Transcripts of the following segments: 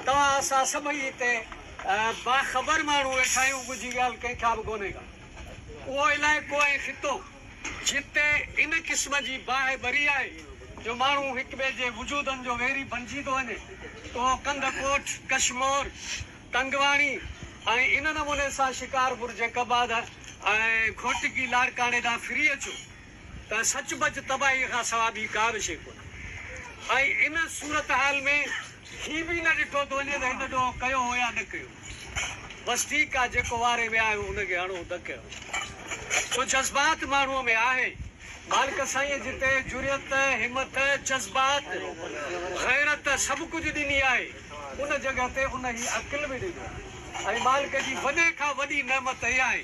توهان اسان سڀئي هتي باخبر ماڻهو ويٺا آهيون ڳجهي ڳالهه ڪنهن کان به ڪونهي ڪا. اهو علائقو ۽ خطو جتي ان قسم جي باهه ٻري آهي جو ماڻهو هڪ ٻئي جي وجودن جو ويري بنجي ٿو وڃي اهو ڪنڌ ڪوٽ، ڪشمور، تنگواڻي ۽ ان نموني سان شڪارپور، جيڪب آباد ۽ گهوٽڪي لاڙڪاڻي ڏانهن ڦري اچو. ته سچ پچ تباهيء کان سوا ٻي ڪا به شيء ڪونهي ۽ ان صورتحال ۾ هي به نه ڏٺو ٿو وڃي ته هن ڏوهه ڪيو هو يا نه ڪيو هو. بس ٺيڪ آهي، جيڪو واري ويا آهيون، ان کي هڻون ڌڪ هڻون. سو جذبات ماڻهوء ۾ آهي. مالڪ سائينء جتي جرئت، همٿ، جذبات، غيرت سڀ ڪجهه ڏني آهي، ان جڳهه تي انهيء عقل به ڏنو آهي ۽ مالڪ جي وڏي کان وڏي نعمت هيء آهي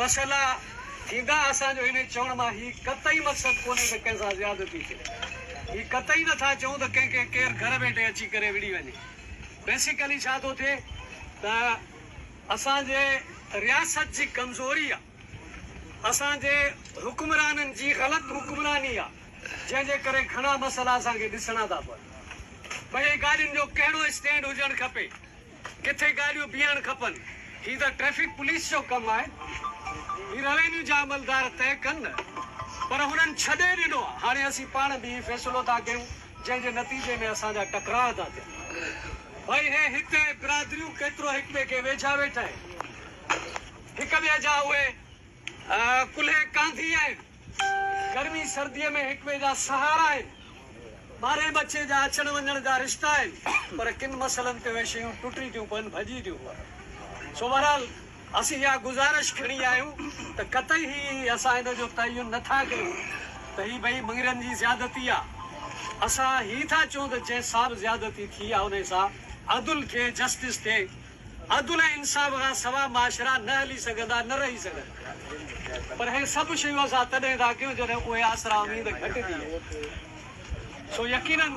مسئلا ٿيندا اسان جو هن چوڻ مان هي قطعي مقصد ڪونهي ته ڪنهن سان زيادتي ٿئي هي قطعي نه ٿا چئون ته ڪنهن کي ڪير گهر ويٺي اچي ڪري وڙهي وڃي بيسيڪلي ڇا ٿو ٿئي ته اسان جي رياست جي ڪمزوري آ اسان جي حڪمرانن جي غلط حڪمراني آ جنهن جي ڪري گهڻا مسئلا اسان کي ڏسڻا ٿا پون پئي ڳالهين جو ڪهڙو اسٽينڊ هجڻ کپي. ڪٿي گاڏيون بيهڻ کپن هي ته ٽريفڪ پوليس جو ڪم آهي هي روينيو جا عملدار طئي ڪن نه پر هنن ڇڏي ڏنو آهي هاڻي اسين پاڻ به هي فيصلو ٿا ڪيون جنهن جي نتيجي ۾ اسان جا ٽڪراء ٿا ٿين ڀئي هي هتي برادريون ڪيترو هڪ ٻئي کي ويجها ويٺا آهن هڪ ٻئي جا اهي ڪلهي ڪانڌي آهن. گرمي سرديء ۾ هڪ ٻئي جا سهارا آهن. ٻاري ٻچي جا اچڻ وڃڻ جا رشتا آهن. پر ڪن مسئلن تي اهي شيون ٽٽي ٿيون پون، ڀڄي ٿيون پون. سو بهرحال اسين اها گذارش کڻي آيا آهيون ته قطعي هي اسان ان جو تعين نه ٿا ڪيون ته هي ٻئي مڱرين جي زيادتي آ. اسان هي ٿا چئون ته جنهن سا به زيادتي ٿي آ انهي سا عدل ٿئي، جسٽس ٿئي. عدل ۽ انصاف کان سوا معاشرا نه هلي سگهندا، نه رهي سگهندا. پر هي سڀ شيون اسان تڏهن ٿا ڪيون جڏهن اهي آسرا اميد گهٽ ٿي ويا. سو يقيناً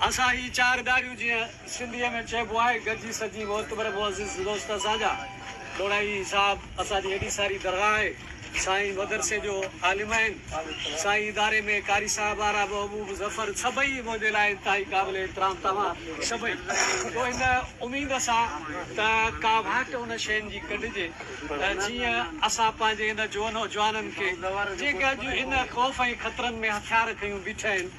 اسان هي چار ڳالهيون جيئن سنڌيء ۾ چئبو آهي گڏجي سڏجي معتبر معزز دوست اسان جا ڏورايي صاحب اسان جي هيڏي ساري درگاهه آهي. سائين مدرسي جو عالم آهن. سائين اداري ۾ قاري صاحب آرا محبوب ظفر سڀئي منهنجي لاء انتهائي قابل احترام توهان سڀئي جو ان اميد سان ته ڪا واٽ ان شين جي ڪڍجي ته جيئن اسان پنهنجي ان جوانن کي جيڪي اڄ ان خوف ۽ خطرن ۾ هٿيار کنيون بيٺا آهن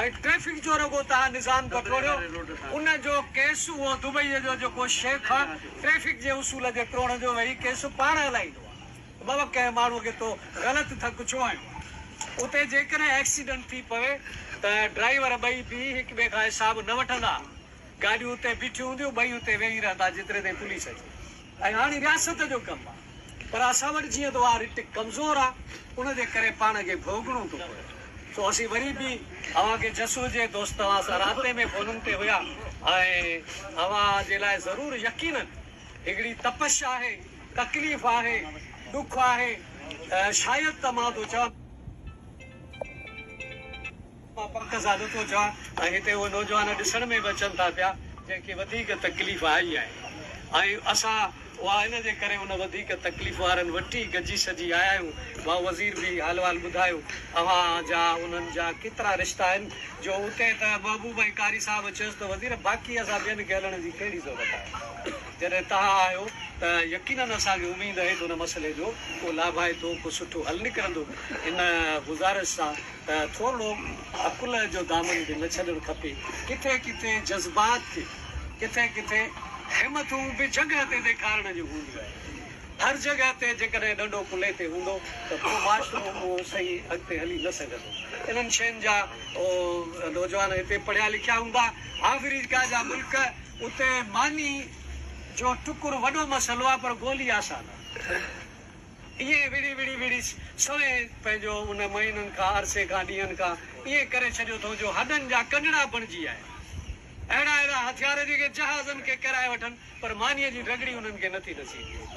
۽ ٽريفڪ جو رڳو تهان نظام بٽوڙيو ان جو ڪيس اهو دبئي جو جيڪو شيخ آ ٽريفڪ جي اصول جي ٽوڙڻ جو وهي ڪيس پاڻ هلائيندو آ ته بابا ڪنهن ماڻهو کي تو غلط ڌڪ ڇو هنيو آ اتي جيڪڏهن ايڪسيڊنٽ ٿي پوي ته ڊرائيور ٻئي بيهي هڪ ٻئي کان حساب نه وٺندا. گاڏيون اتي بيٺيون هونديون، ٻئي اتي ويهي رهندا جيتري تائين پوليس اچي ۽ هاڻي رياست جو ڪم آ پر اسان وٽ جيئن ته اها رٽ ڪمزور آ ان جي ڪري پاڻ کي ڀوڳڻو ٿو پوي سو اسين وري به اوهان کي جس هجي دوست اوهان سان رابطي ۾ فونن تي هيا ۽ اوهان جي لاء ضرور يقينن هڪڙي تپش آهي تڪليف آهي ڏک آهي شايد ته مان ٿو چوان. مان پڪ زادو ٿو چوان ۽ هتي اهي نوجوان ڏسڻ ۾ به اچن ٿا پيا جن کي وڌيڪ تڪليف آئي آهي ۽ اسان اها ان جي ڪري ان وڌيڪ تڪليف وارن وٽ ئي گڏجي سڏجي آيا آهيون. ڀائو وزير به حال وحال ٻڌايو اوهان جا انهن جا ڪيترا رشتا آهن جو اتي ته محبوب ۽ قاري صاحب چيس ته وزير باقي اسان ٻين کي هلڻ جي ڪهڙي ضرورت آهي جڏهن توهان آهيو ته يقينن اسان کي اميد اهي ته ان مسئلي جو ڪو لاڀائتو ڪو سٺو حل نڪرندو ان گذارش سان ته ٿورڙو عقل جو دامن به نه ڇڏڻ کپي، ڪٿي ڪٿي جذبات کي ڪٿي ڪٿي همٿون به جڳهه تي ڏيکارڻ جون هونديون آهن، هر جڳهه تي جيڪڏهن ڏنڊو ڪلهي تي هوندو ته پوء معاشرو اهو صحيح اڳتي هلي نه سگهندو، انهن شين جا اهو نوجوان هتي پڙهيا لکيا هوندا، آفريڪا جا ملڪ اتي ماني جو ٽڪر وڏو مسئلو آهي پر گولي آسان آهي. ائين وڙهي وڙهي وڙهي سوين پنهنجو ان مهينن کان، عرصي کان، ڏينهن کان ائين ڪري ڇڏيو اٿئون جو هڏن جا ڪنڊڙا بڻجي آيا. اهڙا اهڙا هٿيار جيڪي جهازن کي ڪيرائي وٺن پر مانيء جي رڳڙي انهن کي نٿي نصيب ٿئي.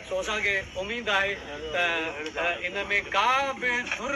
سو اسان کي اميد آهي ته ان ۾ ڪا به ڌر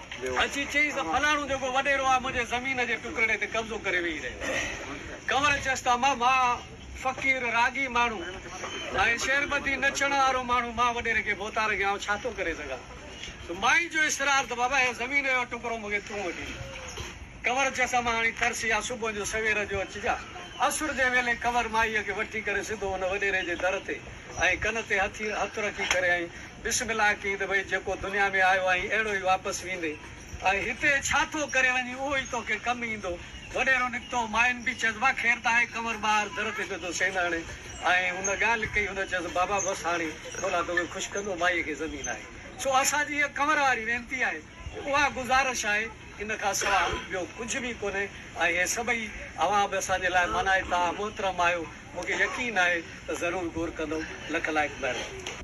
ويو. اچي چيس ته فلاڻو جيڪو وڏيرو آهي منهنجي زمين جي ٽڪرڙي تي قبضو ڪري ويهي رهيو آهي. ڪنور چيس ته امان مان فقير راڳي ماڻهو ۽ شعربدي نچڻ وارو ماڻهو مان وڏيري کي ڀوتار کي آئون ڇا ٿو ڪري سگهان. مائين جو اصرار ته بابا هي زمين جو ٽڪرو مون کي تون وٺي ڏي. ڪنور چيس امان هاڻي ترس يا صبح جو سوير جو اچجان. اسر جي ويلي ڪنور مائيء کي وٺي ڪري سڌو ان وڏيري جي در تي ۽ ڪن تي هٿ رکي ڪري ۽ بسم الله ڪيئي ته ڀئي جيڪو دنيا ۾ آيو آهين اهڙو ئي واپس ويندين ۽ هتي ڇا ٿو ڪري وڃين اهو ئي توکي ڪم ايندو. وڏيرو نڪتو، ماين به چيس واهه خير ته آهي ڪنور ٻاهر در تي پيو ٿو سين هڻي ۽ هن ڳالهه ڪئي هن چيس بابا بس هاڻي ٿولها توکي خوش ڪندو مائيء کي زمين آهي سو اسان جي هيء ڪنور واري وينتي آهي اها گذارش آهي ان کان سواء ٻيو ڪجهه به ڪونهي ۽ هي سڀئي اوهان به اسان جي لاء مانائتا محترم آهيو مونکي يقين آهي ته ضرور غور ڪندؤ لک لائق مهرباني.